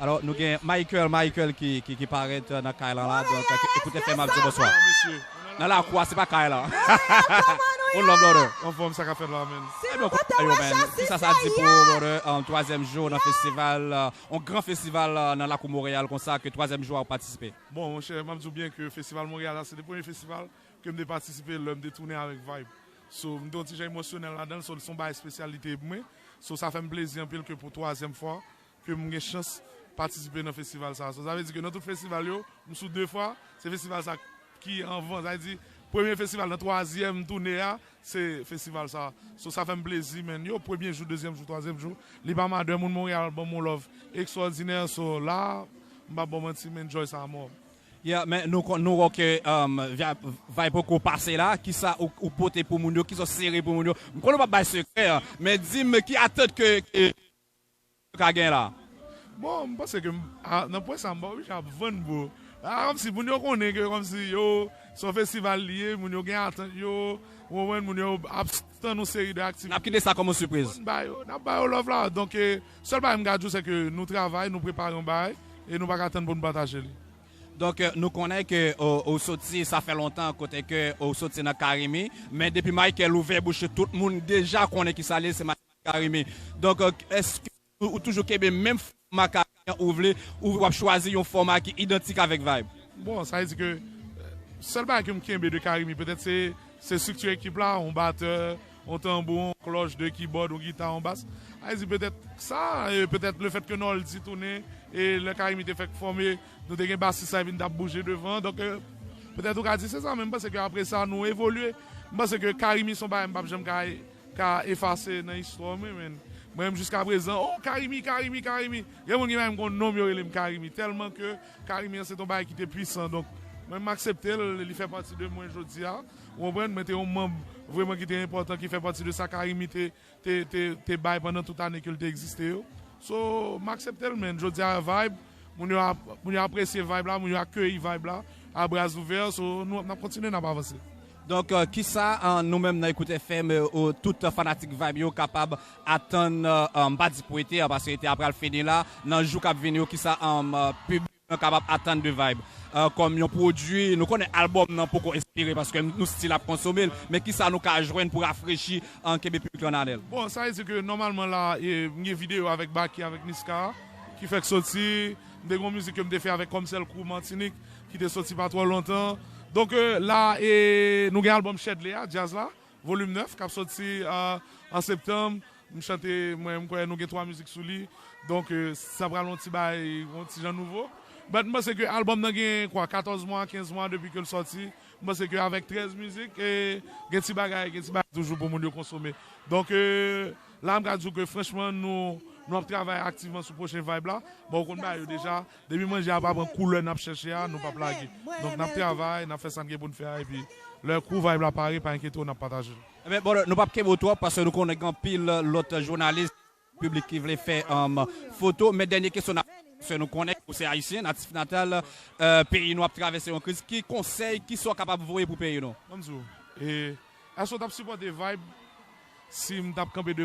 Alò nou gen Michael Michael ki parèt nan kay lan la donk ekoute fè map diw bonswa nan lakou a se pa kay lan One love brother. Anfòm sa kap fèt la menn. Ebyen kote yo menn kisa sa di pou brother twazyèm jou nan festival yon gran festival nan lakou Montréal konsa ke twazyèm jou a ou patisipe. Bon monchè map diw byen ke festival Montréal la se te premye festival kem te patisipe lèm te tounen avèk Vibe so mte yon ti jan emosyonèl ladanl so son bagay espesyal li te pou mwen so sa fèm plezi anpil ke pou twazyèm fwa ke m gen chans patisipe nan festival sa. Sa vle di ke nan tout festival yo, m sou 2 fwa, se festival sa ki anvan. Sa vle di, premye festival nan twazyèm toune a, se festival sa. So, sa fè m plezi man. Yo, premye jou, dezyèm jou, twazyèm jou, li pa madè. Moun Monreyal ban m yon love ekstwòdinè. So, la, m pa p ba w manti, m enjoy sa amò. Yeah, men nou konn, nou wè ke vay poko pase la. Kisa ou pote pou moun yo? Kisa ou sere pou moun yo? M konn ou pa p bay sekrè, men di m ki atant ke ka gen la. Bon m panse ke m nan pwen sa m pa oblije ap vann bro a kòmsi moun yo konnen ke kòmsi yo se yon festival li ye moun yo gen atant yo ou konprann moun yo ap tann yon seri de aktivite. Nap kite sa kòm yon sipriz. N ba yo nap ba yo love la donk sèl bagay m ka di w se ke nou travay nou prepare yon bagay e nou pa ka tann pou nou pataje li. Donk nou konnen ke ou soti sa fè lontan kote ke ou soti nan carimi men depi Michael ouvè bouch li tout moun deja konnen kisa li ye se Michael. Carime. Donk eske ou toujou kenbe menm fòma Carime an ou vle ou wap chwazi yon fòma ki idantik avèk Vibe? Bon sa vle di ke sèl bagay ke m kenbe de Carime petèt se se strikti ekip la, yon batè, yon tanbou, yon klòch, 2 kibòd, yon gita, yon bas. Sa vle di petèt sa e petèt le fèt ke Noldy tounen e lè Carime te fèk fòme nou te gen basis sa ki vin t ap bouje devan donk petèt ou ka di se sa men m panse ke apre sa nou evolye. M panse ke Carime se yon bagay m pap janm ka ka efase nan istwa w menn mwen menm jiska prezan oh carimi carimi carimi gen moun ki pa menm konn nom yo rele m carimi telman ke carimi an se te yon bagay ki te pwisan donk mwen m aksepte l li fè pati de mwen jodia ou konprann mwen te yon manb vreman ki te enpòtan ki fè pati de sa carimi te te te te bay pandan tout ane ke l te egziste yo so m aksepte l menn jodia vayb moun yo ap moun yo apresye vayb la moun yo akeyi vayb la a bras ouvè so nou nap kontinye nap avanse. Donk kisa nou menm nan Ecoute FM ou tout fanatik Vibe yo kapab atann m pa di pou ete an paske ete an pral fini la nan jou kap vini yo kisa piblik lan kapab atann de Vibe kòm yon pwodui nou konnen albòm nan poko espire paske nou stil ap konsome l men kisa nou ka jwenn pou rafrechi an kenbe piblik lan ale l. Bon sa vle di ke nòmalman la m gen videyo avèk Baky avèk Niska ki fèk soti m te gen yon mizik ke m te fè avèk Kòmsèl Crew Martinique Ki te soti pa twò lontan. Donk la e nou gen album Shedley a, Djaz la, Volume 9, k ap soti an septanm. M chante mwen, m kwè nou gen 3 mizik sou li. Donk sa pral yon ti bagay, yon ti jan nouvo. But m panse ke album nan gen kwa 14 mwa, 15 mwa depi ke l soti. M panse ke avèk 13 mizik, gen ti bagay, gen ti bagay toujou pou moun yo konsome. Donk la m ka di w ke franchman nou ap travay aktivman sou pwochen vibe la. Bon ou konn bagay yo deja. Depi manje a pa pran koulè nap chèche a nou pap lage donk nap travay nap fè sa n gen pou n fè a epi lè kou vayb la pare pa enkyete w nap pataje l. Ebyen brother nou pap kenbe w twòp paske nou konnen gen anpil lòt jounalis piblik ki vle fè foto men dènye kesyon nap paske nou konnen ou se ayisyen natif natal peyi nou ap travèse yon kriz ki konsèy ki sa w kapab voye pou peyi nou? Map di w e èske w tap sipòte vayb si m tap kanpe devan w?